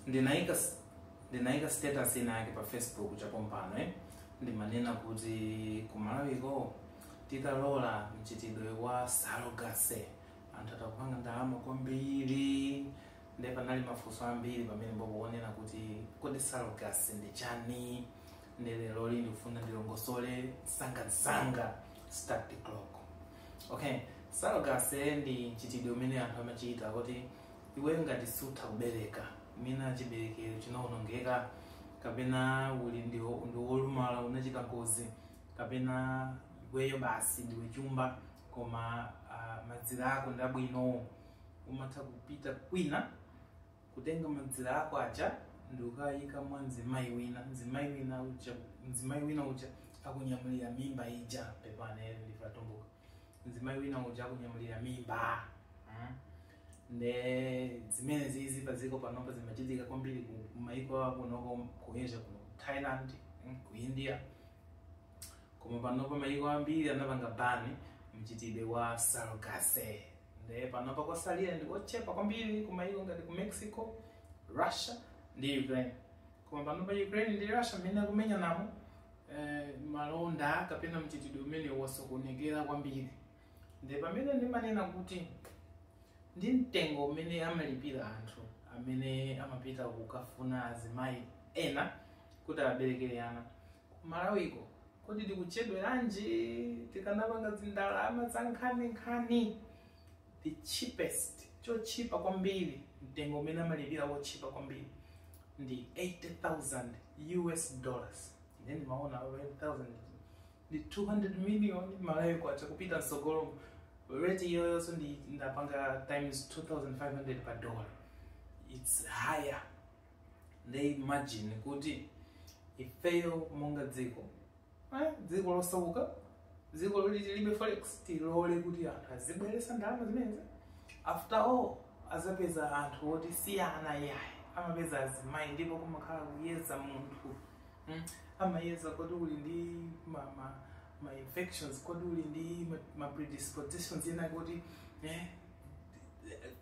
ndinaika s- ndinaika status ina yake pa facebook chapompano eh? ndimanena kuti kumalawiko titalola mchitidwe wa surrogacy anthu atakupanga ndalama kwambiri nde panali mafunso ambiri pamene mbokuonera kuti kodi surrogacy ndi chani nde lero lino ndikufuna ndilongosole msangamsanga start the clock okay surrogacy ndi mchitidwe umene anthu amachita kuti iwe ngati sutha kubereka mwina chiberekero chinawonongeka kapena uli ndi ndi wolumala unachita ngozi kapena iweyo basi ndiwe chumba koma uh, madzira ako ndi abwinowo umatha kupita kwina kutenga madzira ako aja ndi kukayika mwa mzimayi wina mzimayi wina uja mzimayi wina uja akunyamulira mimba ija pepani ndife Atumbuka mzimayi wina uja akunyamulira mimba mm. nde zimene zizi pa dziko panopa zimachitika kwambiri ku ku maiko akunoko ku asia ku thailand mm, ku india koma panopa maiko ambiri anapanga bani mchitidwe wa surrogacy nde panopa kwasalira ndi ochepa kwambiri ku maiko ngati ku mexico russia ndi ukraine koma panopa ukraine ndi russia mmene akumenyanamo eh, malonda kapena mchitidwe umenewu wasokonekera kwambiri nde pamene ndimanena kuti ndi mtengo umene amalipira anthu amene amapita kukafuna azimayi ena kuti awaberekere ana kumalawiko kodi tikuchedweranji tikanapanga zindalama za nkhaninkhani the cheapest chotchipa kwambiri mtengo umene amalipira wotchipa kwambiri ndi 80000 us dollars nde ndimaona 80000 ndi 200 million malawi kwacha kupita msogolo rate iyoyonso ndapanga times 2500 per dollar it's higher nde imagine kuti ifeyo monga dziko Eh, dziko losauka dziko loti tilibe forex tilole kuti anthu azibweresa ndalama zimenezi after all azapeza anthu oti si ana yayi amapeza azimayi ndipo kumakhala kuyeza munthu mm? amayeza kodi uli ndi ma, ma, ma infections kodi uli ndi ma, ma predispositions ena kuti eh,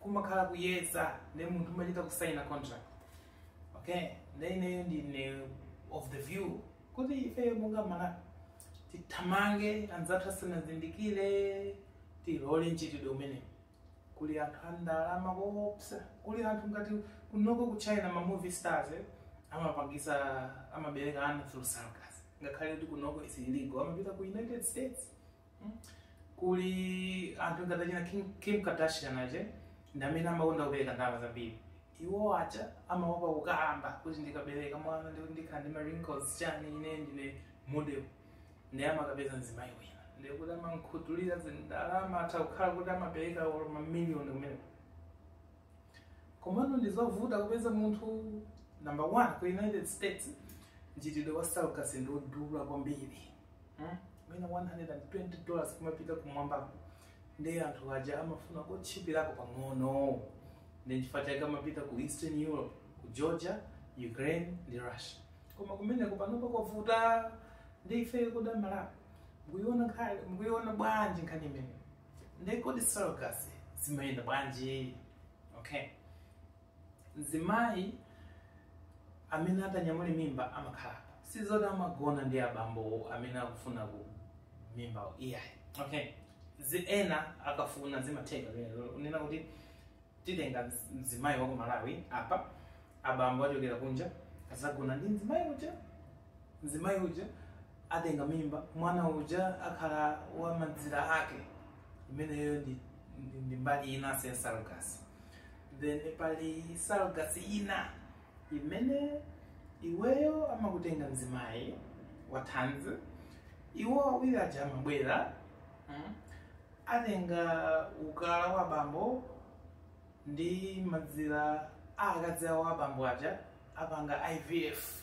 kumakhala kuyeza nde munthu umachita kusaina contract okay nde ineyo ndine of the view kuti ifeyo monga malawi tithamange anzathu asanazindikire tilole mchitidwe umenewu kuli anthu andalama koopsa kuli anthu ngati kunoko ku china ma movie stars eh, amapangisa amabereka ana through surrogacy ngakhale kuti kunoko is illegal amapita ku united states kuli anthu ngati achina Kim, Kim Kardashian aja ndi amene amakonda kupereka ndalama zambiri iwo aja amaopa kukamba kuti ndikabereka mwana ndekuti ndikhala ndi ma wrinkles chani ine ndine model ndiye amakapeza mzimayi wina ndiye kuti amankhutulira zindalama atha kukhala kuti amapereka olo mamiliyoni kumene komano ndizovuta kupeza munthu number one ku united states mchitidwe wa surrogacy ndi wodula kwambiri Hmm? mwina 120 dollars kumapita kumwambako nde anthu aja amafuna kotchipirako pang'ono nde chifukwa chake amapita ku eastern europe ku georgia ukraine ndi russia koma kumeneko panopa kwavuta nde ife ku Malawi mukuiona nkhani mukuiona bwanji nkhani imeneyo nde kodi surrogacy zimayenda bwanji okay mzimayi amene atanyamule mimba amakhala si zoti amagona ndi abambo amene akufunawo mimba iyayi okay zina ena akafuna zimatheka kunena kuti titenga mz- mzimayi wa ku malawi apa abambo achokera kunja azagona ndi mzimayi uja mzimayi uja atenga mimba mwana uja akhala wa mazira ake imeneyo ndi, ndi, ndi mbali inanso ya surrogacy then pali surrogacy ina imene iweyo amakutenga mzimayi wa thanzi iwo awiri aja amabwera mm, atenga ukala wa bambo ndi mazira a akazi awo a bambo aja apanga ivf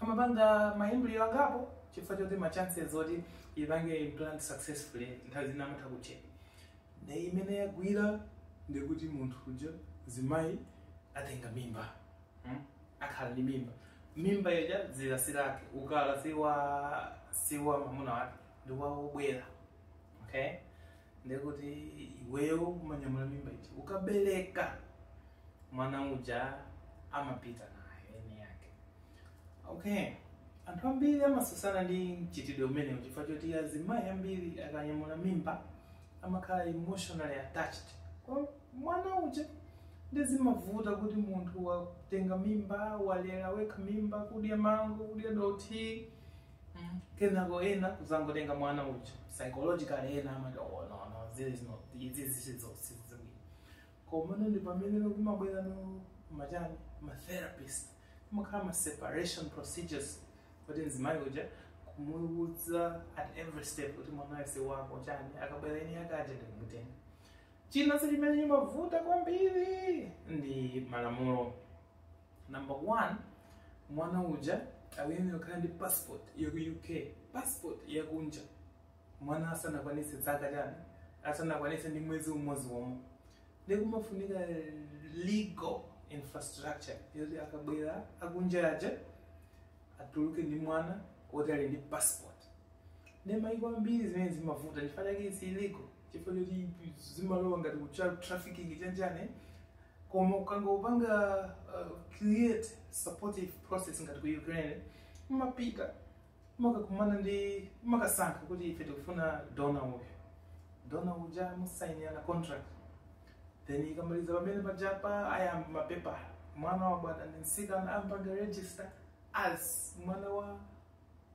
amapanga maembryo angapo chifukwa choti ma chances oti ipange implant successfully nthawi zina amatha kuchepa nde imene yagwira ndekuti munthu uja mzimayi atenga mimba hmm? akhala ndi mimba mimba iyoyo dzira si lake ukala siwa siwa mamuna wake ndi wawo obwera okay ndekuti iweyo umanyamula mimba ija ukabereka mwana uja amapita naye eni ake okay anthu ambiri amatsutsana ndi mchitidwe umenewu chifukwa choti azimayi ambiri akanyamula mimba amakhala emotionally attached kwa mwana uja nde zimavuta kuti munthu watenga mimba walera wekha mimba kudya mango kudya dothi Mm. kenako ena kuzangotenga mwana uja psychologically ena amati oh, no, no, there is no izi sizabwino komano ndi pamene kumabwera now ma chani matherapist kumakhala ma separation procedures kuti mzimayi uja kumuwudza at every step kuti mwanayu si wako chani akabwera eni ake aja ndikumutenga chinanso chimene chimavuta kwambiri ndi malamulo number one mwana uja akuyenera kukhala ndi passport yaku uk passport yakunja mwana asanakwanitse zaka chani asanakwanitse ndi mwezi umodzi womwe nde kumafunika legal infrastructure yoti akabwera akunja aja atuluke ndi mwana woti ali ndi passport nde maiko ambiri zimene zimavuta chifukwa chake is illegal chifukwa choti zimalowa ngati ku child trafficking chanichani koma ukangopanga uh, create supportive process ngati ku ukraine mumapita mumakakumana ndi mumakasankha kuti ife tikufuna donor uyu donor uja musainirana contract then ikamaliza pamene pajapa ayamba mapepala mwana wabadwa ndi msikana ampanga register as mwana wa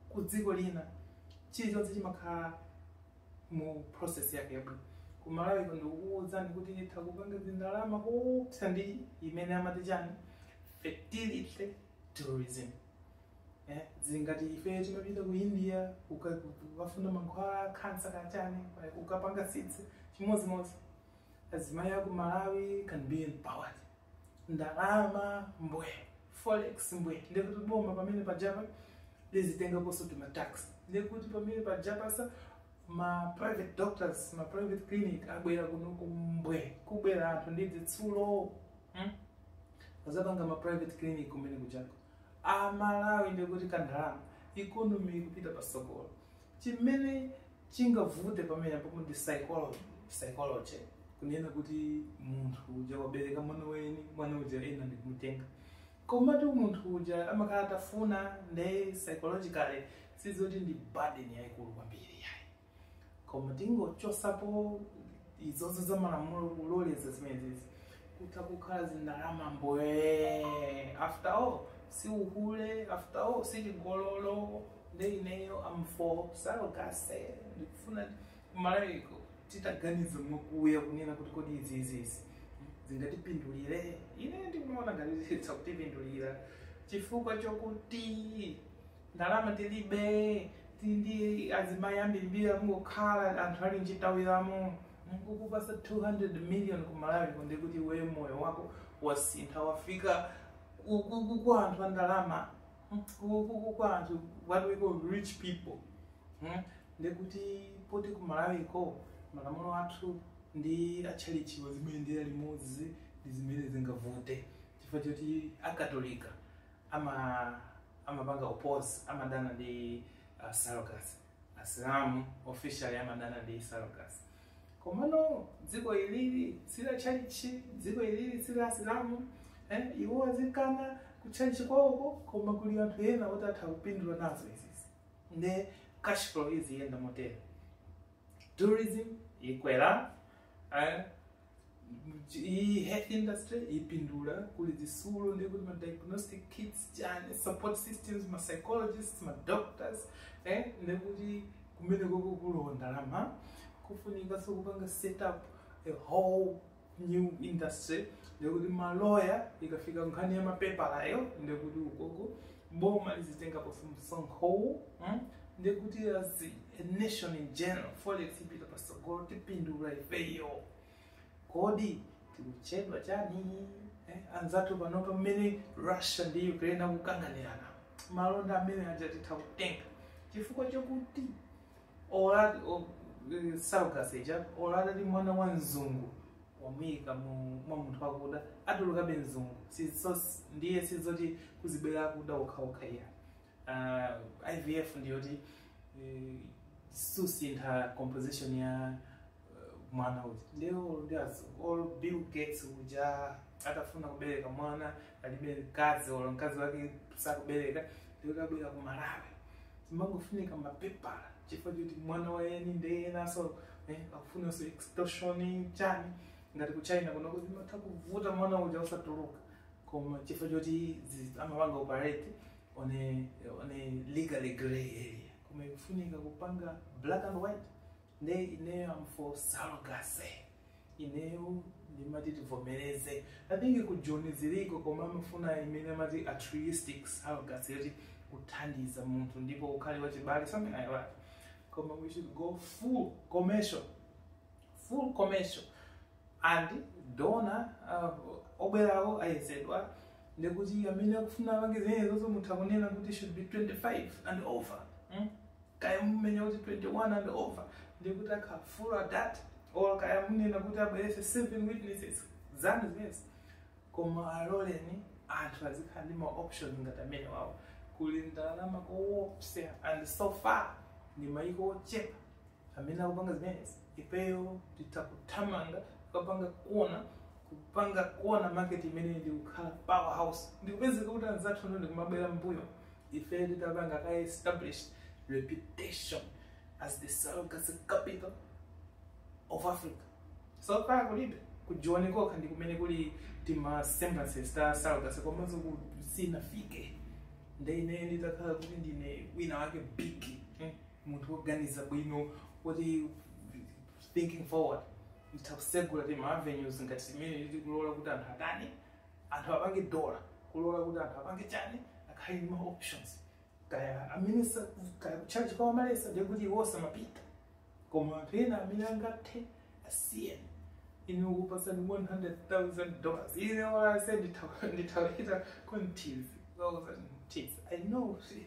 ku dziko lina chilichonse chimakhala mu process yake yabwino ku malawi kuno ndikukuuzani kuti itha kupanga zindalama koopsa ndi imene amati chani fertility tourism eh, zingati ife timapita ku india kuka- kukafuna mankhwala a khansa kachani eh, kukapanga sitsi chimodzimodzi azimayi aku malawi can be empowered ndalama mbwe forex mbwe ndekuti boma pamene pajapa lizitengaponso timatax ndekuti pamene pajapaso ma private doctors ma private clinic abwera kunoko mbwe kubwera anthu ndi zitsulo hmm? azapanga ma private clinic kumene kujako amalawi ndekuti kandalama economy ikupita pasogolo Chimene chingavute pamenepo ndi psychology, psychology kunena kuti munthu uja wabereka mwana wake mwana uja ena ndikumutenga komatu munthu uja amakhala atafuna nde psychologically sizoti ndi burden yayikulu kwambiri yayi koma tingochosapo izozo za malamulo kuloleza zimenezi kutha kukhala zindalama mbwe after all si uhule after all si chigololo nde ineyo am for surrogacy ndikufuna kumalawiko titaganiza mwakuya kunena kuti kodi izi izi izi zingatipindulire ine ndikumaona ngati zitha kutipindulira chifukwa chokuti ndalama tilibe tili ndi azimayi ambirimbiri akungokhala anthu ali mchitawira mo kukupasa 200 million ku malawiko ndekuti iweyo moyo wako wasintha wafika ku- ku- ku- kwa anthu a ndalama kwa anthu what we call rich people hmm? ndekuti poti ku malawiko malamulo athu ndi atchalitchiwo zimayendera limodzi ndi zimene zingavute chifukwa choti akatolika ama amapanga oppose amadana ndi uh, surrogacy asilamu officially amadana ndi surrogacy komano dziko ilili si la tchalitchi dziko ilili si la asilamu eh, iwo azikana kutchalitchi kwawoko koma kuli anthu ena oti atha kupindula nazo izizi nde cash flow iziyenda motero tourism ikwera eh, Mch- iyi health industry ipindula kuli zisulo ndi kuti ma diagnostic kits chani support systems ma psychologists ma doctors eh ndi kuti kumene koko kulowa ndalama kufunika so kupanga set up a whole new industry ndi kuti maloya ikafika nkhani ya mapepalayo ndi kuti ukoko boma lizitengapo msonkho ndi kuti as a nation in general forex ipita pasogolo tipindula ifeyo kodi tikuchedwa chani eh, anzathu panopa mmene russia ndi ukraine akukanganirana malonda amene aja titha kutenga chifukwa chokuti ola o- eh, surrogacy ija olo ali ndi mwana wa mzungu wamuyika mu- mwa munthu wakuda atulukabe mzungu Sizo- ndiye sizoti kuzibwera akuda okhaokha iya uh, IVF ndiyoti uh, susintha composition ya uh, mwana uja nde olo as- olo Bill Gates uja atafuna kubereka mwana alibe mkazi olo mkazi wake sakubereka ndi okabwera ku Malawi zimangofunika mapepala chifukwa choti mwana wa yeni ndiye enaso eh, akufunanso extortion chani ngati ku China kunoko zimatha kuvuta mwana uja osatuluka koma chifukwa choti zi- amapanga operate on a, on a legally gray area koma ikufunika kupanga black and white nde ineyo am for surrogacy ineyo ndimati tivomereze i think ku joni ziliko koma amafuna imene amati altruistic surrogacy yoti kuthandiza munthu ndipo ukhale wachibale something like that koma we should go full commercial full commercial and donor uh, obwerawo ayezedwa ndikuti amene akufuna apange zinenezozo mutha kunena kuti should be 25 and over mm? kaya munena kuti 21 and over ndikuti akhale full adult or kaya munena kuti abwerese seven witnesses zanu zimenezi koma aloleni anthu azikhala ndi ma option ngati amenewawo kuli ndalama koopsa and so far ndi mayiko ochepa amene akupanga zimenezi ifeyo titha kuthamanga kukapanga kona kupanga kona market imeneyi ndi kukhala power house ndikupezeka kuti anzathu ndikumabwera mbuyo ifeyo titapanga ka established reputation as the surrogacy capital of africa so far kulibe ku joni kokha ndi kumene kuli tima semblances ta surrogacy komanso ku- sinafike nde ine nditakhala kuti ndine wina wake big mm. munthu woganiza bwino kuti thinking forward nditha kusegula ti maavenues ngati zimene ndikulola kuti anthu atani anthu apange dola kulola kuti anthu apange chani akhale ndi ma options kaya amene sa- kaya kutchalitchi kwa Malesa ndiye kuti iwo samapita koma anthu ena amene angathe asiye inu kukupasani 100,000 dollars ine wase nditawita kontizi 1000 tizi i know si-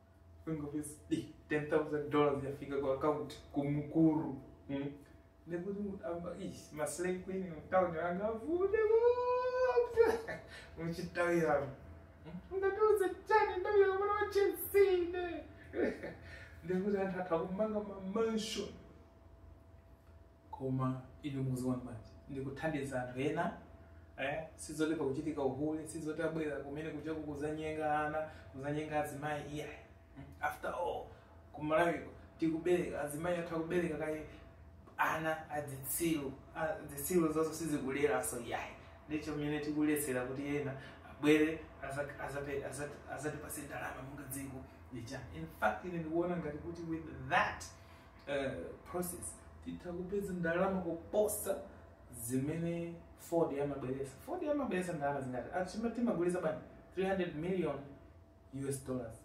ngopasa 10000 dollars yafika ku account kumkulu mm. ndekuti munthu amba ish maslay queen mtown anga avule kupsa muchitawiramo ungatiuze chani ndabira mwana wa chelsea ne ndekuti anthu atha kumanga mamansion koma inu mukuziona bwanji ndi kuthandiza anthu ena eh? sizoti pakuchitika uhule sizoti abwera kumene kuja kuzanyenga ana kuzanyenga azimayi iya after all kumalawiko tikubereka azimayi athu akubereka kaye ana adzitsiru adzitsiru zonse sitikuleranso iyayi ndicho mene tikulesera kuti ena abwere aza- azape- azati- azatipase ndalama munga dziko ndicha in fact ine ndikuona ngati kuti with that eh, process titha kupeza ndalama kuposa zimene fodya amabweresa fodya amabweresa ndalama zingati achima timagulisa bwanji 300 million us dollars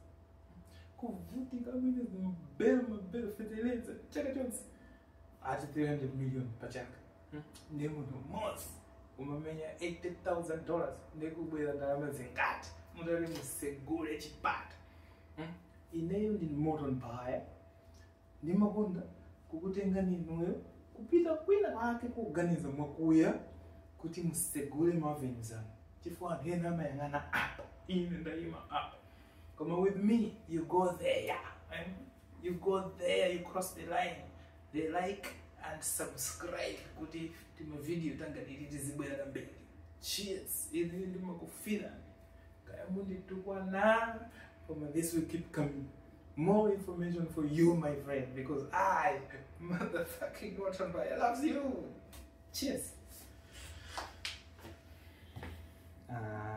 kuvutika kumene timabera mabera feteleza chaka chonse ati 300 million pa chaka Hmm? ndi munthu mmodzi umamenya 80000 dollars ndikubwera ndalama zingati mutati musegule chipata Hmm? ineyo ndi Moton Baya Ndimakonda kukutengani inuyo kupita kwina kwake kuganiza mwakuya kuti musegule ma avenues anu chifukwa anthu ena amayang'ana apa ine ndayima apa koma with me you go there eh? you go there you cross the line they like and subscribe kuti timavidiyo tangati iti tizibwera kambiri cheers ili ndimakufira kaya munditukwana koma this will keep coming more information for you my friend because i motherfucking Rottenmeier loves you cheers Ah.